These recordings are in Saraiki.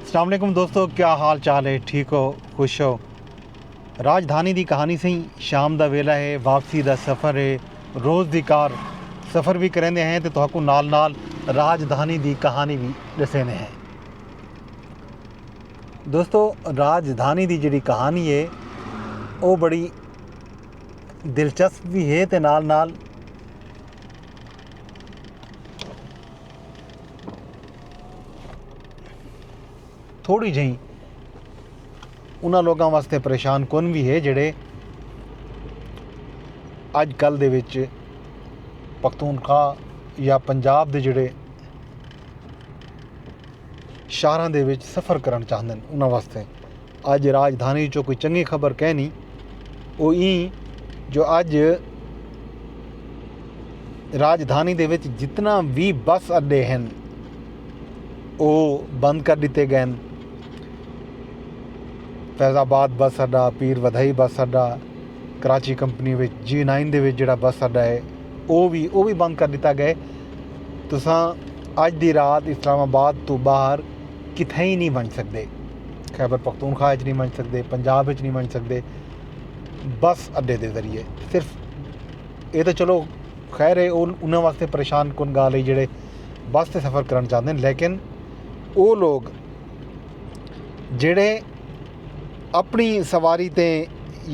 اسلام علیکم دوستو کیا حال چال ہے ٹھیک ہو خوش ہو راجدھانی دی کہانی سیں شام دا ویلا ہے واپسی دا سفر ہے روز دی کار سفر بھی کریندے ہیں تے تہاکوں نال نال راجدھانی دی کہانی بھی ڈسیندے ہیں دوستو راجدھانی دی جڑی کہانی ہے او بڑی دلچسپ بھی ہے تے نال نال تھوڑی جہیں انہاں لوکاں واسطے پریشان کن بھی ہے جڑے اج کل دے وچ پختونخوا یا پنجاب دے جڑے شہراں دے وچ سفر کرن چاہندے انہاں واسطے اڄ راجدھانی وچوں کوئی چنڳی خبر کینی او ایں جو اڄ راجدھانی دے وچ جتنا وی بس اڈے ہن او بند کر ݙتے ڳئن فیض آباد بس اڈا پیر ودھئی بس اڈا کراچی کمپنی وچ جی نائن دے وچ جڑا بس اڈا ہے او وی او وی بند کر ݙتا ڳئے تساں اڄ دی رات اسلام آباد تو باہر کتھے ہی نہیں ونڄ سڳدے خیبر پختونخوا اچ نہیں ونج سکدے پنجاب اچ نہیں ونج سکدے بس اڈے دے ذریعے صرف اے تاں چلو خیر اے انہاں واسطے پریشان کن گالھ اے جیڑھے بس تے سفر کرن چاہندے ہن لیکن او لوگ جیڑھے اپنی سواری تے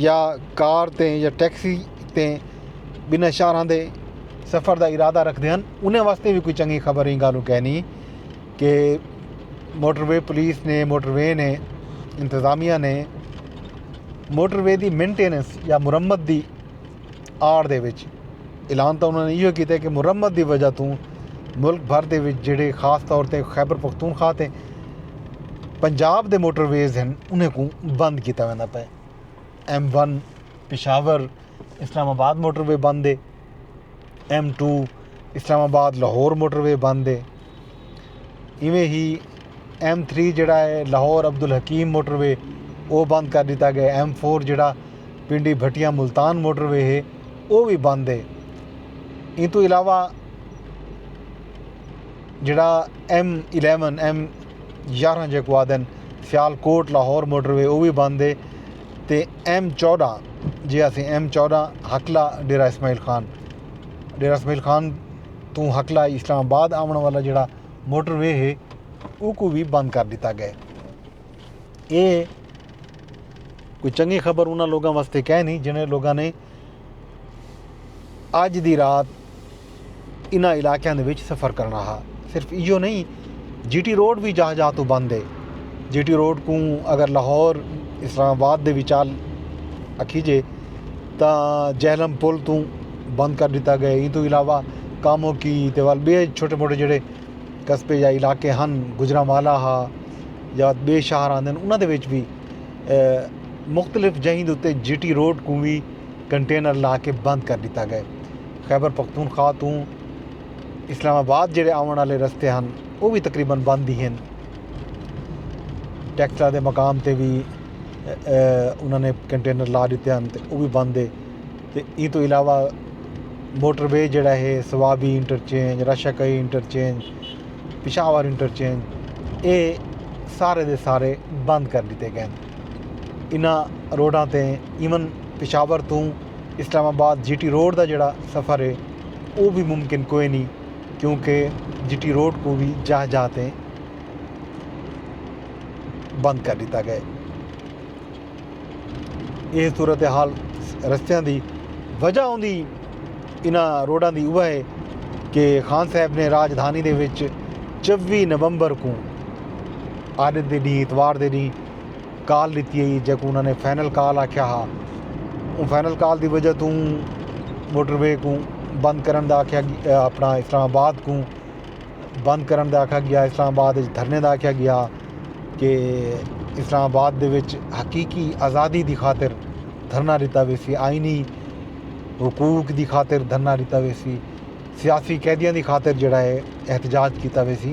یا کار تے یا ٹیکسی تے بنا شاراں دے سفر دا ارادہ رکھدے ہن انہاں واسطے وی کوئی چنگی خبر ایں گالھ کینی کہ موٹر وے پولیس نے موٹر وے نے انتظامیہ نے موٹر وے دی مینٹیننس یا مرمت دی آڑ دے وچ اعلان تاں انہوں نے ایہو کیتے کہ مرمت دی وجہ توں ملک بھر دے وچ جیڑھے خاص طور تے خیبر پختونخوا تے پنجاب دے موٹر ویز ہن انہیں کوں بند کیتا ویندا پئے ایم ون پشاور اسلام آباد موٹر وے بند ہے ایم ٹو اسلام آباد لاہور موٹر وے بند ہے ایویں ہی ایم تھری جیڑھا ہے لاہور عبدالحکیم موٹر وے او بند کر ݙتا ڳئے ایم فور جیڑھا پنڈی بھٹیاں ملتان موٹر وے ہے او وی بند ہے ایں توں علاوہ جیڑھا ایم الیون ایم یارھاں جیکو آدھن Sialkot Lahore motorway او وی بند ہے تے ایم چوݙاں جے اسیں ایم چوݙاں حقلہ ڈیرہ اسماعیل خان ڈیرہ اسماعیل خان توں ہکلا اسلام آباد آوݨ والا جیڑھا موٹر وے ہے اوکوں وی بند کر ݙتا ڳئے۔ اے کوئی چنڳی خبر انہاں لوکاں واسطے کینی جنہاں لوکاں نے اڄ دی رات انہاں علاقیاں دے وچ سفر کرݨا ہا۔ صرف ایہو نئیں۔ جی ٹی روڈ وی جاہ جاہ توں بند ہے جی ٹی روڈ کوں اگر لاہور اسلام آباد دے وچال اکھی جے تا جہلم پل توں بند کر ڈتا گئے ایں توں علاوہ کاموں کی تے وال بے چھوٹے موٹے جڑے قصبے یا علاقے ہن گجرا مالا ہا یا بے شہر آندے انہاں دے وچ بھی مختلف جہیں دے اتے جی ٹی روڈ کوں وی کنٹینر لا کے بند کر ڈتا گئے خیبر پختونخوا توں اسلام آباد جیڑھے آوݨ آلے رستے ہن او وی تقریبا بند ہی ہن ٹیکٹراں دے مقام تے وی انہاں نے کنٹینر لا ݙتے ہن تے او وی بند ہے تے ایں توں علاوہ موٹر وے جیڑھا ہے Swabi interchange Rashakai interchange Peshawar interchange اے سارے دے سارے بند کر ݙتے ڳئے ہن انہاں روڈاں تے ایون پشاور توں Islamabad G T road دا جیڑھا سفر ہے او وی ممکن کوئے نی کیونکہ جی ٹی روڈ کوں وی جاہ جاہ تے بند کر ڈتا گئے۔ ایہ صورتحال رستیاں دی وجہ ہوندی انہاں روڈاں دی اوہ ہے کہ خان صاحب نے راجدھانی دے وچ چوی نومبر کوں آڈت دے ڈینہہ اتوار دے ڈینہہ کال ݙتی ہئی جیکوں انہاں نے فائنل کال آکھیا ہا اوں فائنل کال دی وجہ توں موٹر وے کوں بند کرݨ دا آکھیا اپنا اسلام آباد کوں بند کرݨ دا آکھا ڳیا اسلام آباد وچ دھرنے دا آکھیا ڳیا کہ اسلام آباد دے وچ حقیقی آزادی دی خاطر دھرنا ݙتا ویسی آئینی حقوق دی خاطر دھرنا ݙتا ویسی سیاسی قیدیاں دی خاطر جیڑھا ہے احتجاج کیتا ویسی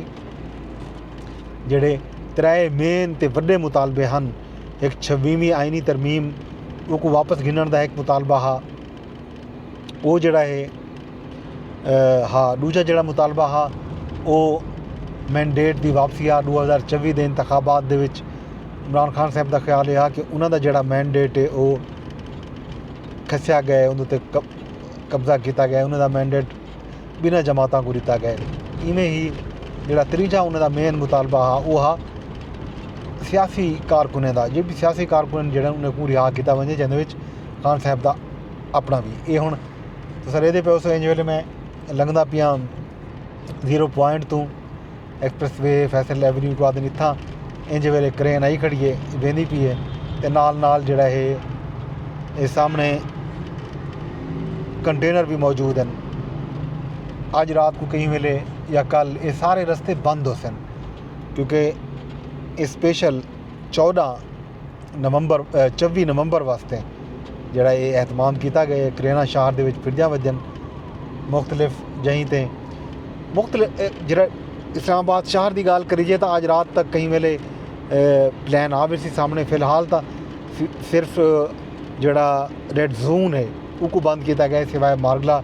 جیڑھے ترائے مین تے وڈے مطالبے ہن۔ ہک چھویہویں آئینی ترمیم اوکو واپس گھننڑ دا ہک مطالبہ ہا۔ او جیڑھا ہے ہا ڈوجھا جیڑھا مطالبہ ہا او مینڈیٹ دی واپسی ہا ڈو ہزار چوی دے انتخابات دے وچ عمران خان صاحب دا خیال اے ہا کہ انہاں دا جیڑھا مینڈیٹ اے او کھسیا گئے اودے تے قبضہ کیتا گئے انہاں دا مینڈیٹ ٻنہہ جماعتاں کوں ݙتا ڳئے۔ ایویں ہی جیڑھا تریجھا انہاں دا مین مطالبہ ہا او ہا سیاسی کارکنیں دا جیڑھے سیاسی کارکن جیڑھے انہاں کوں رہا کیتا ونڄے جیندے وچ خان صاحب دا اپݨا وی اے ہݨ تساں ݙیکھدے پیو سو ایں ویلھے میں لنگھدا پیاں زیرو پوائنٹ توں ایکسپریس وے فیصل ایونیو کوں آہدن اتھاں انج ویلے کرین آئی کھڑی ہے ویندی پی ہے تے نال نال جیڑا ہے اے سامنے کنٹینر بھی موجود ہیں اج رات کو کہیں ویلے یا کل اے سارے رستے بند ہوسن کیونکہ اے سپیشل چودہ نومبر چوی نومبر واسطے جیڑا اے اہتمام کیتا گئے کرینا شہر دے وچ پھرجاں وجن مختلف جہیں تے مختلف جیڑا اسلام آباد شہر دی گال کریجے تاں آج رات تک کہیں ویلے پلان آ ویسی سامنے فی الحال تاں صرف جیڑا ریڈ زون ہے اوکو بند کیتا گئے سوائے مارگلا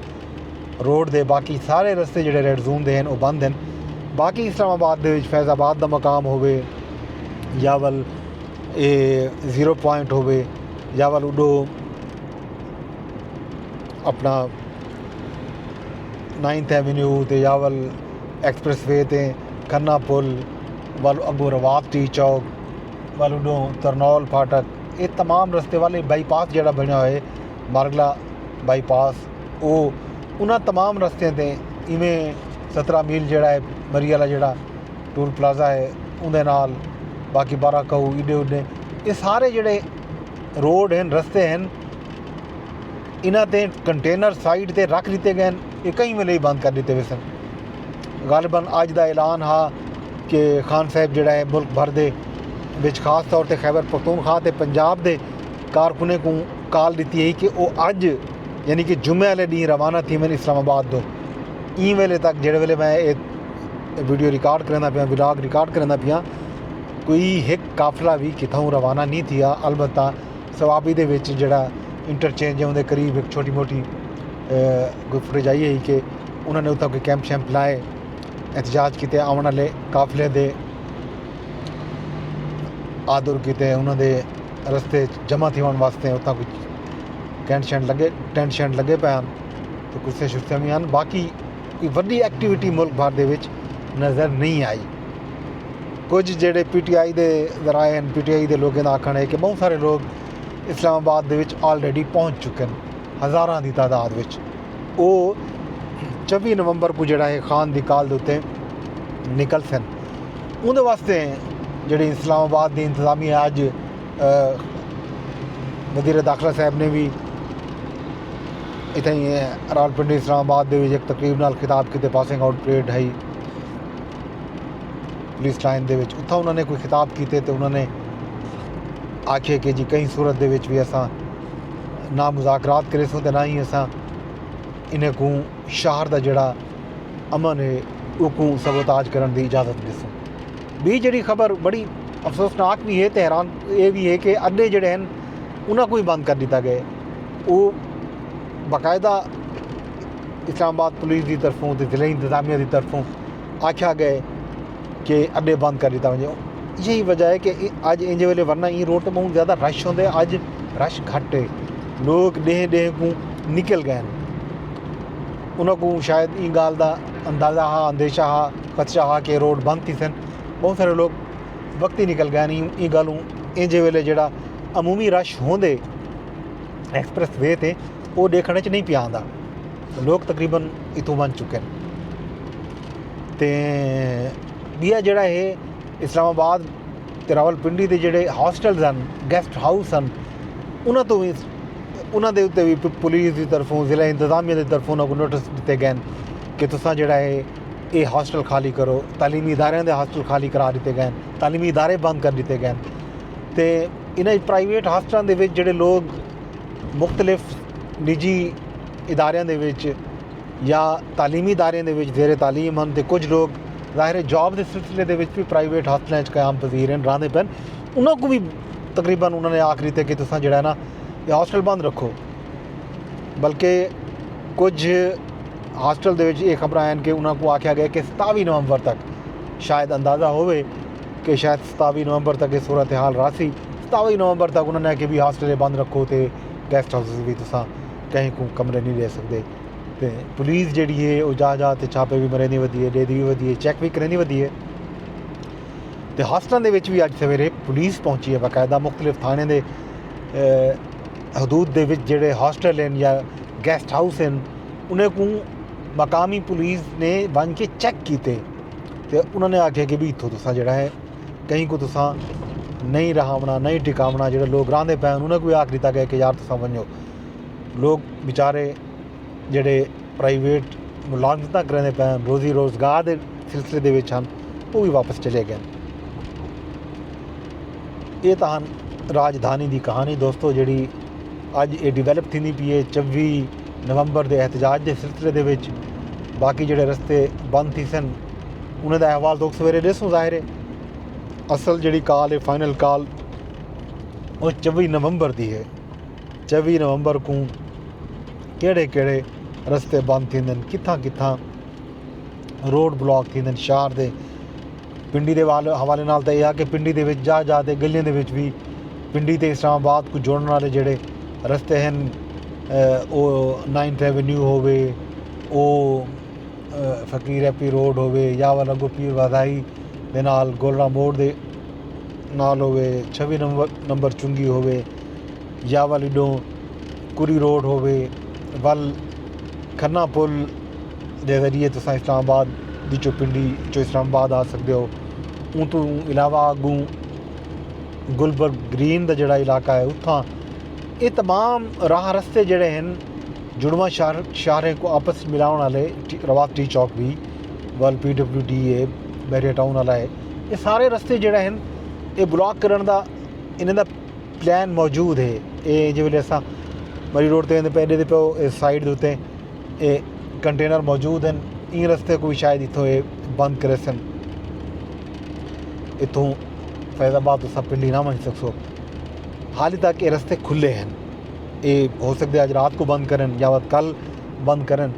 روڈ دے باقی سارے رستے جڑے ریڈ زون دے ہن او بند ہن باقی اسلام آباد دے وچ فیض آباد دا مقام ہووے یا ول اے زیرو پوائنٹ ہووے یا ول اڈو اپنا نائنتھ ایونیو تے یا ول ایکسپریس وے تے کھنا پل ول اگو رواب ٹی چوک ول اڈو ترنول پھاٹک اے تمام رستے والے بائی پاس جڑا بنیا ہوئے مارگلا بائی پاس او انہاں تمام رستیاں تے ایویں سترہ میل جیڑھا ہے مری آلا جیڑھا ٹول پلازہ ہے اوندے نال باقی بارہ کہو ایڈے اوڈے اے سارے جیڑھے روڈ ہن رستے ہن انہاں تے کنٹینر سائڈ تے رکھ لیتے گئے اے کہیں ویلے ہی بند کر دیتے ویسن غالباً اج دا اعلان ہا کہ خان صاحب جیڑھا ہے ملک بھر دے وچ خاص طور تے خیبر پختونخوا تے پنجاب دے کارکنیں کوں کال ݙتی ہئی کہ او اڄ یعنی کہ جمعہ آلے ݙینہہ روانہ تھیون اسلام آباد توں ایں ویلے تک جیڑھے ویلے میں اے ویڈیو ریکارڈ کریندا پیاں ولاگ ریکارڈ کریندا پیاں کوئی ہک قافلہ وی کتھاؤں روانہ نی تھیا البتہ صوابی دے وچ جیڑھا انٹرچینج ہے اوندے قریب ہک چھوٹی موٹی کوئی فوٹیج آئی ہئی کہ انہاں نے اتھاں کوئی کیمپ شیمپ لائے احتجاج کیتے آوݨ آلے قافلے دے آدر کیتے انہاں دے رستے اچ جمع تھیوݨ واسطے اتھاں کجھ ٹینٹ شینٹ لگے ٹینٹ شینٹ لگے پئے ہن تو کرسیاں شرسیاں وی ہن باقی کوئی وڈی ایکٹیویٹی ملک بھر دے وچ نظر نہیں آئی کجھ جڑے پی ٹی آئی دے ذرائع ہیں پی ٹی آئی دے لوگوں کا آکھن ہے کہ بہت سارے لوگ اسلام آباد دے وچ آلریڈی پہنچ چکے ہیں ہزاراں دی تعداد وچ او چوبی نومبر کو جڑا ہے خان دی کال دے اتنے نکل سن اوندے واسطے جیڑھی اسلام آباد دی انتظامیہ اج وزیر داخلہ صاحب نے وی اتھائی راولپنڈی اسلام آباد دے وچ ایک تقریب نال خطاب کیتے پاسنگ آؤٹ پریڈ ہئی پولیس لائن دے وچ اتھاں انہاں نے کوئی خطاب کیتے تے انہاں نے آکھے کہ جی کہیں صورت دے وچ وی اساں نہ مذاکرات کریسوں تے نہ ہی اساں انہیں کوں شہر دا جڑا امن ہے اوکوں سبوتاج کرݨ دی اجازت ݙیسوں۔ ٻی جیڑھی خبر بڑی افسوسناک وی ہے تے حیران اے وی ہے کہ اݙے جیڑھے ہن انہاں کوں وی بند کر ݙتا ڳئے۔ او باقاعدہ اسلام آباد پولیس دی طرفوں تے ضلعی انتظامیہ دی طرفوں آکھیا ڳئے کہ اݙے بند کر ݙتا ونڄے۔ ایہی وجہ ہے کہ اڄ اینجھے ویلے ورنہ ایں روڈ تے ٻہوں زیادہ رش ہوندے اڄ رش گھٹ ہے۔ لوک ݙیہہ ݙیہہ کوں نکل ڳئے ہن۔ انہاں کوں شاید ایں ڳالھ دا اندازہ ہا اندیشہ ہا خدشہ ہا کہ روڈ بند تھیسن بہت سارے لوگ وقتی نکل گئے نی ایں ڳالھ اوں ایں جے ویلے جیڑھا عمومی رش ہوندے ایکسپریس وے تے او ݙیکھݨ اچ نی پیا آندا لوگ تقریبا اتھوں ونڄ چکن تے ٻیا جیڑھا ہے اسلام آباد تے راولپنڈی دے جیڑھے ہاسٹلز ہن گیسٹ ہاؤس ہن انہاں توں وی انہاں دے اتے وی پولیس دی طرفوں ضلع انتظامیہ دی طرفوں انہاں کوں نوٹس ݙتے ڳئن کہ تساں جیڑھا ہے اے ہاسٹل خالی کرو تعلیمی اداریاں دے ہاسٹل خالی کرا ݙتے ڳئن تعلیمی ادارے بند کر ݙتے ڳئن تے انہاں اچ پرائیویٹ ہاسٹلاں دے وچ جیڑھے لوک مختلف نجی اداریاں دے وچ یا تعلیمی اداریاں دے وچ زیر تعلیم ہن تے کجھ لوگ ظاہر ہے جاب دے سلسلے دے وچ بھی پرائیویٹ ہاسٹلاں وچ قیام پذیر ہن رہندے پن انہاں کو بھی تقریبا انہاں نے آکھ دیتے کہ تساں جڑا ہے نا یہ ہاسٹل بند رکھو بلکہ کجھ ہاسٹل دے وچ یہ خبر آئین کہ انہاں کو آکھیا گیا کہ ستاوی نومبر تک شاید اندازہ ہوئے کہ شاید ستاوی نومبر تک یہ صورتحال راسی ستاوی نومبر تک انہوں نے کہ بھی ہاسٹل بند رکھو تے گیسٹ ہاؤسز بھی تساں کہیں کو کمرے نہیں لے سکتے تے پولیس جیڑی ہے او جاہ جاہ تے چھاپے وی مریندی ودی ہے ڈیندی وی ودی ہے چیک وی کریندی ودی ہے تے ہاسٹلاں دے وچ وی اج سویرے پولیس پہنچی ہے باقاعدہ مختلف تھانے دے حدود دے وچ جڑے ہاسٹل ہیں یا گیسٹ ہاؤس ہیں انہیں کو مقامی پولیس نے ون کے چیک کیتے تے انہوں نے آکھے کہ بھی اتھوں تساں جڑا ہے کہیں کو تساں نہیں رہاونا نہیں ٹکاونا جڑے لوگ راندے پے انہوں نے کوئی آکھ دیتا گیا کہ یار تساں ونجو لوک وچارے جیڑھے پرائیویٹ ملازمتاں کریندے پئے ہن روزی روزگار دے سلسلے دے وچ ہن او وی واپس چلے گئے ہن اے تاں ہن راجدھانی دی کہانی دوستو جیڑھی اج اے ڈیولپ تھیندی پی اے چوی نومبر دے احتجاج دے سلسلے دے وچ باقی جیڑھے رستے بند تھی سن انہاں دا احوال تو سویرے ڈیسوں ظاہر ہے اصل جیڑھی کال ہے فائنل کال او چوی نومبر دی ہے چوی نومبر کوں کیڑھے کیڑھے رستے بند تھیندن کتھاں کتھاں روڈ بلاک تھیندن شہر دے پنڈی دے حوالے نال تے یا کہ پنڈی دے وچ جا جا تے گلیاں دے وچ وی پنڈی تے اسلام آباد کو جوڑن والے جڑے رستے ہیں او نائنتھ ایونیو ہووے او فقیر ایپی روڈ ہووے یا والا گو پیر وادائی دے نال گولڑا موڑ دے نال ہووے چھوی نمبر چنگی ہووے یا ول اڈوں کری روڈ ہووے ول کھنہ پل دے ذریعے تساں اسلام آباد دی چو پنڈی چو اسلام آباد آ سکدے ہو اوں توں علاوہ اگوں گلبرگ گرین دا جڑا علاقہ ہے اتھاں اے تمام راہ رستے جڑے ہن جڑواں شہر شہریں کو آپس ملاون والے روات ٹی چوک بھی ول پی ڈبلیو ڈی اے بحریہ ٹاؤن والا ہے اے سارے رستے جڑے ہن اے بلاک کرن دا انہاں دا پلان موجود ہے اے جیں ویلے اساں مری روڈ تے پہلے تے پہو اے سائڈ اتیں اے کنٹینر موجود ہین ایں رستے کوئی شاید اتھوں اے بند کرے سن اتھوں فیض آباد تو سب پنڈی نہ ونج سکسو حالی تک اے رستے کھلے ہیں اے ہو سکتے اج رات کو بند کرن یا وت کل بند کرن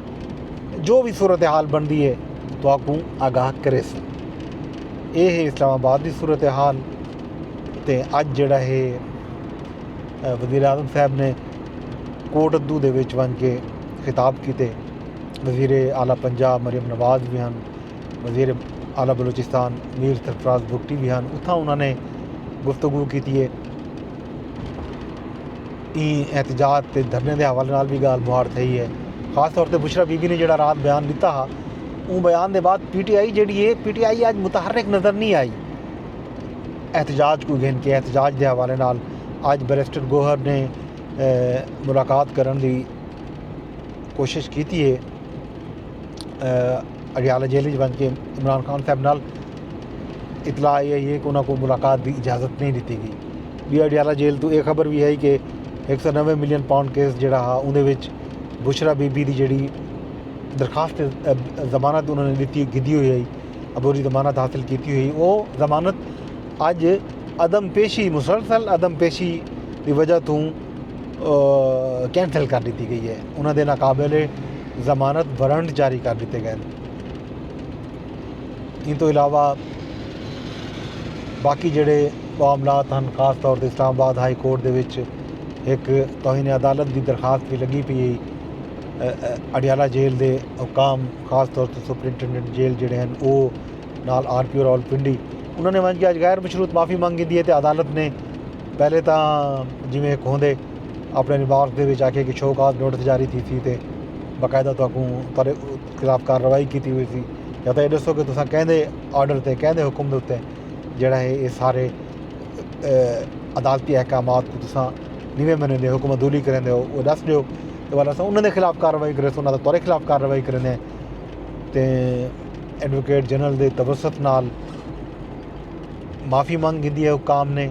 جو بھی صورت حال بندی ہے تو آکوں آگاہ کرے سن اے ہے اسلام آباد دی صورت حال تے اج جیڑھا ہے وزیراعظم صاحب نے کوٹ ادو دے وچ ونج کے خطاب کیتے وزیر اعلی پنجاب مریم نواز وی ہن وزیر اعلی بلوچستان میر سرفراز بگٹی وی ہن اتھاں انہاں نے گفتگو کیتی ہے این احتجاج تے دھرنے دے حوالے نال بھی گال مہاڑ تھئی ہے خاص طور تے بشرا بی بی نے جڑا رات بیان دیتا ہا اون بیان دے بعد پی ٹی آئی جڑی ہے پی ٹی آئی اج متحرک نظر نہیں آئی احتجاج کوں گھن کے احتجاج دے حوالے نال اج بیرسٹر گوہر نے ملاقات کرݨ دی کوشش کیتی ہے اڈیالہ جیل وچ ونج کے عمران خان صاحب نال اطلاع آئی ہے کہ انہاں کو ملاقات دی اجازت نہیں ݙتی گئی بی اڈیالہ جیل تو اے خبر وی ہے کہ ہک سو نوے ملین پاؤنڈ کیس جیڑا ہا اوندے وچ بشرا بی بی دی جیڑی درخواست ضمانت انہاں نے ݙتی گھدی ہوئی ہئی عبوری ضمانت حاصل کیتی ہوئی او ضمانت اج عدم پیشی مسلسل عدم پیشی دی وجہ توں کینسل کر ݙتی ڳئی اے انہاں دے ناقابل ضمانت وارنٹ جاری کر ݙتے ڳئن ایں توں علاوہ باقی جیڑھے معاملات ہن خاص طور تے اسلام آباد ہائی کورٹ دے وچ ہک توہین عدالت دی درخواست وی لڳی پئی اے اڈیالہ جیل دے حکام خاص طور تے سپرنٹنڈنٹ جیل جیڑھے ہن او نال آر پی او راولپنڈی انہاں نے ونج کے اج غیر مشروط معافی منگ گھدی ہے تے عدالت نے پہلے تاں جویں ہک ہوندے اپنے ریمارکس دے وچ آکھیا کہ شو کاز نوٹس جاری تھیسی تے باقاعدہ تہاکوں تہاڈے خلاف کارروائی کیتی ویسی یا تاں اے ڈسو کہ تساں کیندے آرڈر تے کیندے حکم دے اتے جیڑھا ہے اے سارے عدالتی احکامات کوں تساں نویں مہینے دے حکم عدولی کریندے ہو او ݙس ݙیو تے والا اساں انہاں دے خلاف کاروائی کریسوں انہاں دا تہاڈے خلاف کاروائی کریندے ہیں تے ایڈووکیٹ جنرل دے توسط نال معافی منگ گھدی ہے حکام نے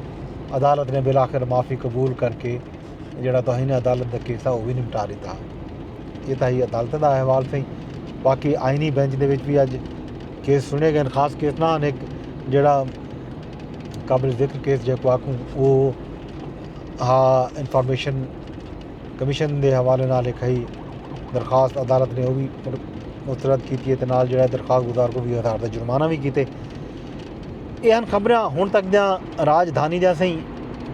عدالت نے بالآخر معافی قبول کر کے جڑا توہین عدالت دا کیس ہے او وی نمٹا ݙتا یہ تاہی عدالت دا احوال سہی باقی آئینی بینچ دے وچ بھی اج کیس سنے گئے خاص کیس نہ ہن ایک جڑا قابل ذکر کیس جے کو آکھوں او ہا انفارمیشن کمیشن دے حوالے نال ہک ہئی درخواست عدالت نے او وی مسترد کیتی ہے تے نال جیڑا درخواست گزار کو وی ہزار دا جرمانہ وی کیتے اے ہن خبراں ہن تک دیاں راجدھانی دیاں سئیں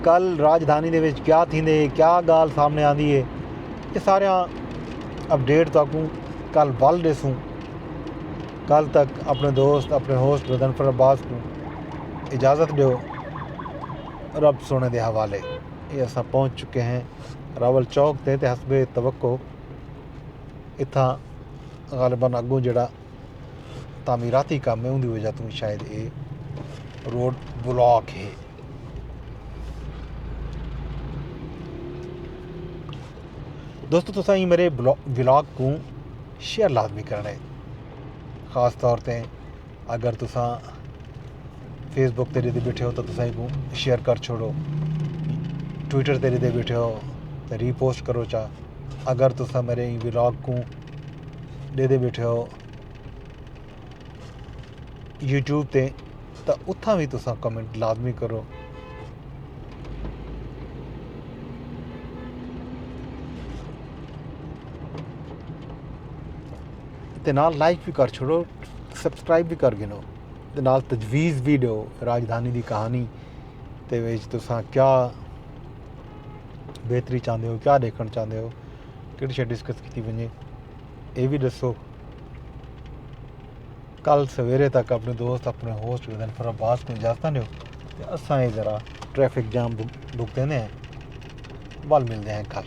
کل راجدھانی دے وچ کیا تھیندے کیا گال سامنے آندی ہے اے سارے اپڈیٹ تاکوں کل ول ڈیسوں کل تک اپنے دوست اپنے ہوسٹ غضنفر عباس کو اجازت دیو رب سونے دے حوالے اے اساں پہنچ چکے ہیں راول چوک تے تے حسب توقع اتھا غالباً اگوں جڑا تعمیراتی کام ہے ان دی وجہ تو شاید اے روڈ بلاک ہے دوستو تو سائیں میرے بلاگ کو شیئر لازمی کرنے خاص طور تے اگر تساں فیس بک تے ݙیندے بیٹھے ہو تاں تساں ایکوں شیئر کر چھوڑو ٹویٹر تے ݙیندے بیٹھے ہو تاں ری پوسٹ کرو چا اگر تساں میݙے ایں ولاگ کوں ݙیندے بیٹھے ہو یوٹیوب تے تاں اتھاں وی تساں کمنٹ لازمی کرو تے نال لائک بھی کر چھوڑو سبسکرائب بھی کر گھنو تے نال تجویز بھی ڈیو راجدھانی دی کہانی تے وچ تساں کیا بہتری چاہندے ہو کیا دیکھن چاہندے ہو کیڑی شے ڈسکس کیتی ونجے اے بھی دسو کل سویرے تک اپنے دوست اپنے ہوسٹ ودن فر عباس کو اجازت دیو تے اساں اے ذرا ٹریفک جام بھگتے ہیں بل ملتے ہیں کل